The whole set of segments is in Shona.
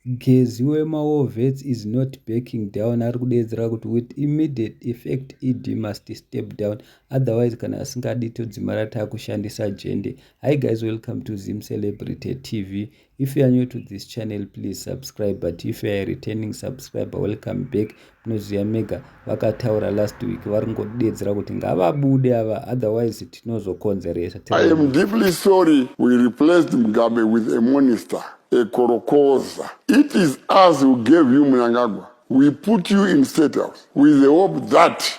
Gezi wema war vets is not backing down ari kudeedzera kuti with immediate effect ED must step down otherwise kana asingadi todzimara takushandisa jende. Hi guys welcome to Zim Celebrity TV. If you are new to this channel please subscribe but if you are a returning subscriber welcome back. Tinoziva mega vakataura last week vari kungodeedzera kuti ngavabude ava otherwise tinozokonzeresa. I am deeply sorry we replaced Mugabe with a minister a korokoza. It is us who gave you Mnangagwa. We put you in state house with the hope that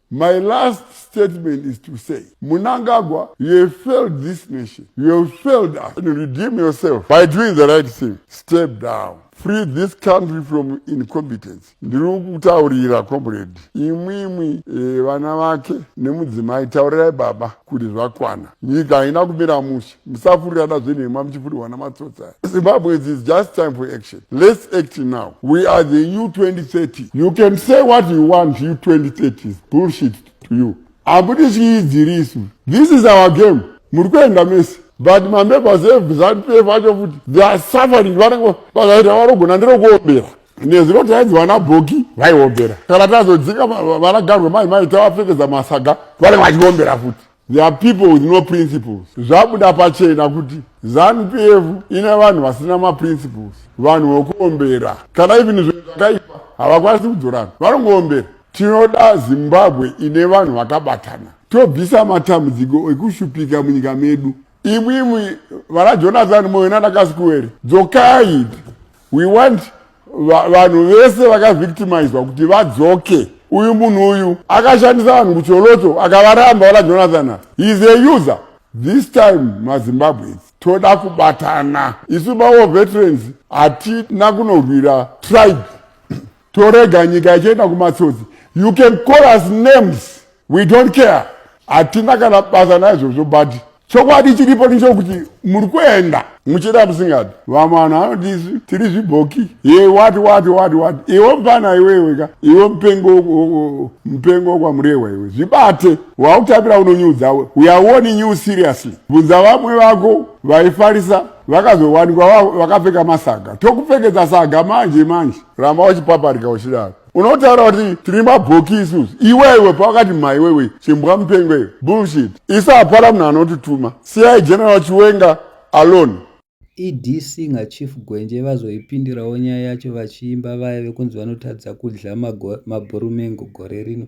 My last statement is to say, Munangagwa, you have failed this nation. You have failed us. And redeem yourself by doing the right thing. Step down. Free this country from incompetence. Ndiri kutaurira comrade. Imwi imwi e, vana vake nemudzimai taurirai baba kuti zvakwana. Nyika haina kumira mushe. musafurirana zvenhema muchifurirwa namatsotsi aya zimbabwe is just time for action let's act now we are the u 2030 you can say what you want u 2030 is bullshit to you hakuti chiidziri isu this is our game muri kuenda mese but mamembers evzanpf acho futi they are suffering vanenge vakaita vanogona nderokuombera nezuro tainzi vana bhoki vaiombera kana tazodzinga vanagarwe mai mai tavapfekedza masaga vanenge vachiombera futi There are people with no principles. Zvabuda pachena kuti Zanu PF ine vanhu vasina ma principles. Vanhu vokuombera. Kana even zvinhu zvakaipa havakwanisi kudzorana. Vanongoombera. Tinoda Zimbabwe ine vanhu vakabatana. Tobvisa matambudziko ekushupika munyika medu. Imwimwi vana Jonathan Moyo nana Kasikuwere dzokai. We want vanhu vese vakavictimizwa kuti vadzoke uyu munhu uyu akashandisa vanhu kucholoto akavaramba vala jonathan heis a user this time mazimbabweans toda kubatana isu mawo veterans hatina kunorwira tribe torega nyika ichienda kumatsotsi you can call us names we don't care hatina kana basa naizvozvo but chokwadi chiripo ndichokuti muri kuenda muchida musingadi vamwe vanhu vanotisi tiri zvibhoki ye wati wati wati wati iwe mupana iwewe ka iwe mupengo mupengo wokwamurewa iwe zvibate wakutambira unonyudza we uyawoni new seriously bvunza vamwe vako vaifarisa vakazowanikwa vakapfeka masaga tokupfekedza saga manje manje ramba uchipaparika uchidaro unotaura kuti tiri mabhoki isusu iwewe pawakati maiwewe chimbwa mupengweyo bullshit isu hapana munhu anotituma siyai general chiwenga alone ed singer chief gwenje vazoipindirawo nyaya yacho vachiimba vaya vekunzi vanotadza kudya mabhorumengo gore rino